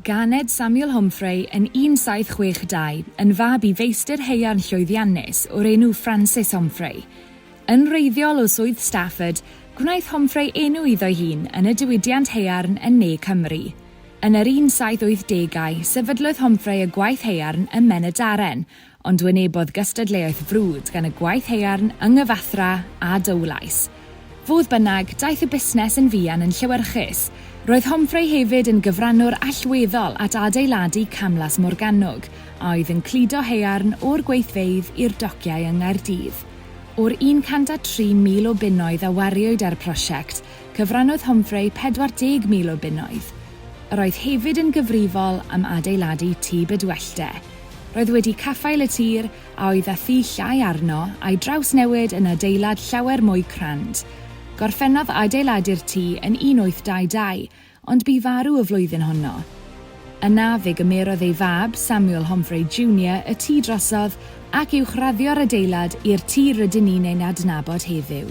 Ganed Samuel Homfray yn 1762 yn fab i feistr haearn llwyddiannus o'r enw Francis Homfray. Yn wreiddiol o swydd Stafford, gwnaeth Homfray enw iddo'i hun yn y diwydiant haearn yn ne Cymru. Yn yr 1780au, sefydlodd Homfray y gwaith haearn ym Mhen-y-daren, ond wynebodd gystadleuaeth frwd gan y gwaith haearn yng Nghyfathrà a Dowlais. Fodd bynnag, daeth y busnes yn fuan yn llewyrchus. Roedd Homfrey hefyd yn gyfrannwr allweddol at adeiladu Camlas Morgannwg, a oedd yn cludo haearn o'r gweithfeydd i'r dociau yng Nghaerdydd. O'r 103,000 o bunnoedd a wariwyd ar y prosiect, cyfrannodd Homfrey 40,000 o bunnoedd. Yr oedd hefyd yn gyfrifol am adeiladu Tŷ Bydwellde. Roedd wedi caffael y tir a oedd â thŷ llai arno a'i drawsnewid yn adeilad llawer mwy crand. Gorffennodd adeiladu'r tŷ yn 1822, ond bu farw y flwyddyn honno. Yna, fe gymerodd ei fab, Samuel Homfray Junior, y tŷ drosodd ac uwchraddio'r adeilad i'r tŷ rydyn ni'n ei adnabod heddiw.